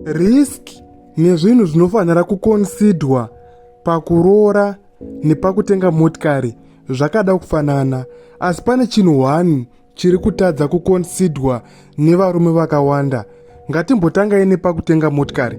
risk nezvinhu zvinofanira kukonsidwa pakuroora nepakutenga motikari zvakada kufanana asi pane chinhu one chiri kutadza kukonsidwa nevarume vakawanda ngatimbotangai nepakutenga motikari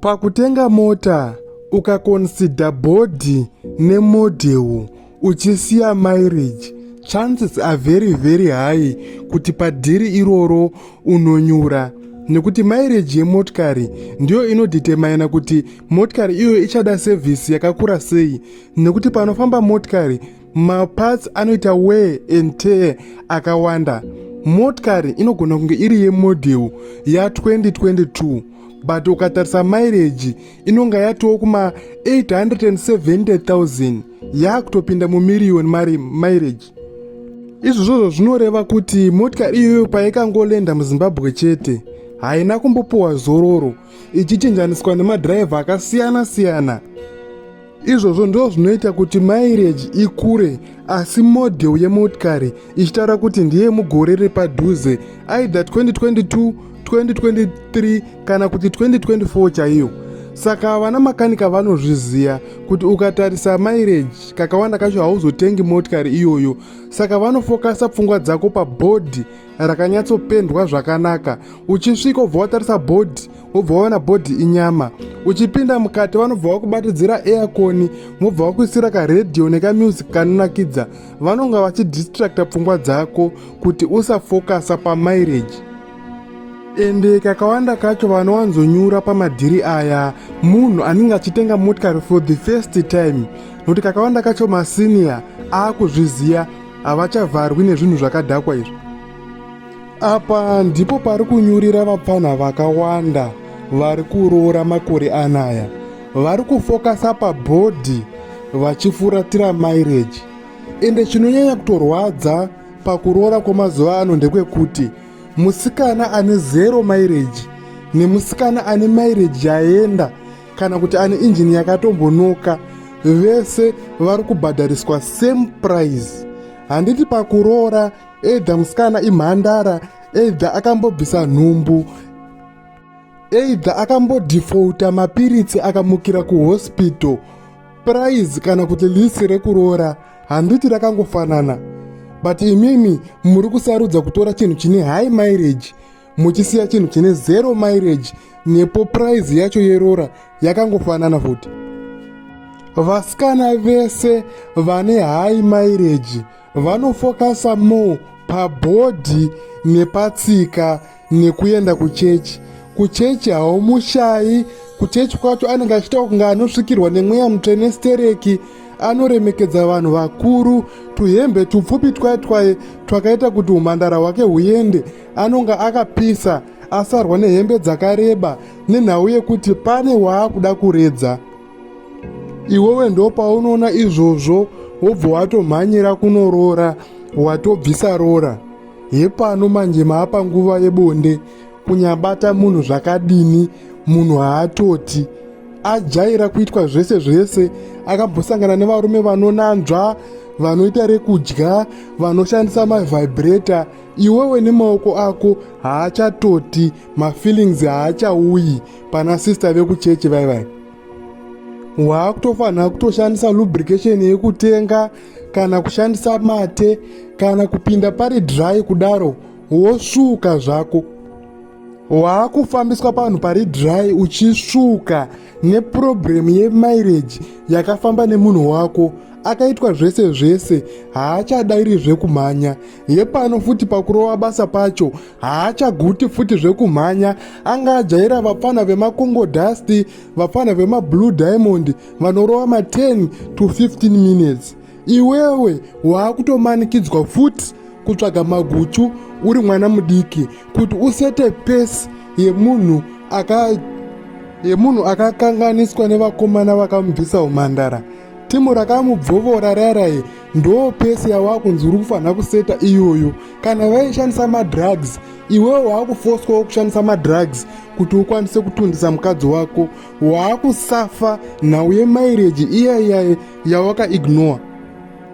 pakutenga mota ukakonsidha bhodhi nemodhewo uchisiya marriage chances are very very high kuti padhiri iroro unonyura nekuti maireji yemotikari ndiyo inodhitemaina kuti motikari iyoyo ichada sevhisi yakakura sei nekuti panofamba motikari maparts anoita wee and tee akawanda motikari inogona kunge iri yemodhel ya 2022 but ukatarisa maireji inonga yatowo kuma 870000 yaakutopinda mumirioni mari maireji izvozvozvo zvinoreva kuti motikari iyoyo paikangolenda muzimbabwe chete haina kumbopiwa zororo ichichinjaniswa nemadhiraivha akasiyana siyana izvozvo ndo zvinoita kuti maireji ikure asi modhel yemotikari ichitaura kuti ndiye mugore repadhuze aida 2022 2023 kana kuti 2024 chaiyo saka vana makanika vanozviziva kuti ukatarisa maireji kakawanda kacho hauzotengi motikari iyoyo saka vanofokasa pfungwa dzako pabhodhi rakanyatsopendwa zvakanaka uchisvika ubva watarisa bhodhi wobva waona bhodhi inyama uchipinda mukati vanobva vakubatidzira eakoni mobva vakuisira karedhiyo nekamusic kanonakidza vanonga vachidistracta pfungwa dzako kuti usafokasa pamaireji ende kakawanda kacho vanowanzonyura pamadhiri aya munhu anenge achitenga motikari for the first time nokuti kakawanda kacho masiniya aakuzviziva havachavharwi nezvinhu zvakadhakwa izvi Apa ndipo pari kunyurira vapfanha vakawanda vari kuroora makore anaya. Vari kufokasa pabhodhi vachifuratira maireji. Ende chinonyanya kutorwadza pakuroora kwemazuva ano ndekwekuti musikana ane zero maireji nemusikana ane maireji yaenda kana kuti ane injini yakatombonoka vese vari kubhadhariswa same price handiti pakuroora either musikana imhandara either akambobvisa nhumbu either akambodhifouta mapiritsi akamukira kuhospital prize kana kuti lisi rekuroora handiti rakangofanana but imimi muri kusarudza kutora chinhu chine high mileage muchisiya chinhu chine zero mileage nepo prize yacho yeroora yakangofanana futi vasikana vese vane high mileage vanofokasa more pabhodhi nepatsika nekuenda kuchechi kuchechi haumushayi kuchechi kwacho anenge achiita kunge anosvikirwa nemweya mutsvene stereki anoremekedza vanhu vakuru tuhembe tupfupi twaye twaye twakaita kuti umhandara hwake huende anonge akapisa asarwa nehembe dzakareba nenhau yekuti pane waakuda kuredza iwewe ndopaunoona izvozvo wobva watomhanyira kunoroora watobvisa roora hepano manje maapa nguva yebonde kunyabata munhu zvakadini munhu haatoti ajaira kuitwa zvese zvese akambosangana nevarume vanonanzva vanoita rekudya vanoshandisa mavibrator iwewe nemaoko ako haachatoti mafeelings haachauyi pana sister vekuchechi vai vai waakutofanira kutoshandisa lubrication yekutenga kana kushandisa mate kana kupinda pari dry kudaro wosuka zvako waakufambiswa panhu pari dry uchisuka neprobhuremu yemaireji yakafamba nemunhu wako akaitwa zvese zvese haachadairi zvekumhanya hepano futi pakurova basa pacho haachaguti futi zvekumhanya anga ajaira vapfana vemakongo dusty vapfana vemablue diamond vanorova ma10 to 15 minutes iwewe waakutomanikidzwa futi kutsvaga maguchu uri mwana mudiki kuti usete pesi yemunhu aka yemunhu akakanganiswa nevakomana vakamubvisa umhandara timu rakamubvovora raraye ndoo pesi yawakunzi uri kufanira kuseta iyoyo kana vaishandisa madrugs iwewe waakufoswawo kushandisa madrugs kuti ukwanise kutundisa mukadzi wako waakusafa nhau yemaireji iya iyaye yawakaignore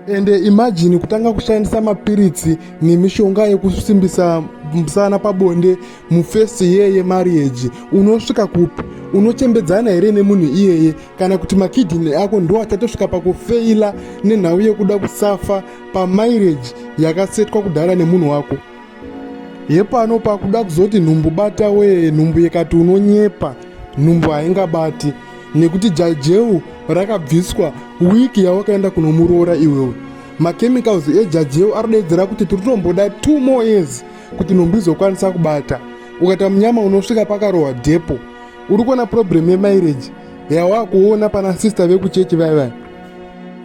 ende imajini kutanga kushandisa mapiritsi nemishonga yekusimbisa musana pabonde mufesi yeye marieji unosvika kupi unochembedzana here nemunhu iyeye kana kuti makidhini ako ndo achatosvika pakufeila nenhau yekuda kusafa pamaireji yakasetwa kudhara nemunhu wako hepano pakuda kuzoti nhumbu bata wee nhumbu yekati unonyepa nhumbu haingabati nekuti jajeu rakabviswa wiki yawakaenda kunomuroora iwewe machemicals ejajeu arodedzera kuti tiri tomboda two more years kuti nhumbu izokwanisa kubata ukata munyama unosvika pakarohwa depo uri kuona problem yemaireji yawakuona pana sister vekuchechi vaya vaya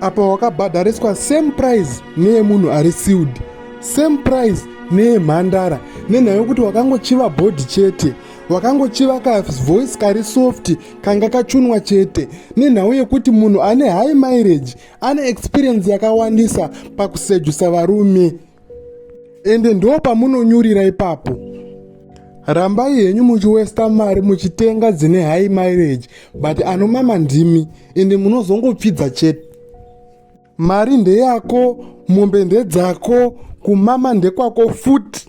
apa wakabhadhariswa same price neyemunhu ari siud same price neyemhandara nenhaya yokuti wakangochiva bhodhi chete wakangochiva kavoice kari soft kanga kachunwa chete nenhau yekuti munhu ane high mileage ane experience yakawandisa pakusejusa varume ende ndo pamunonyurira ipapo rambai henyu muchiwesta mari muchitenga dzine high mileage but anomama ndimi ende munozongopfidza chete mari ndeyako mombe ndedzako kumama ndekwako futi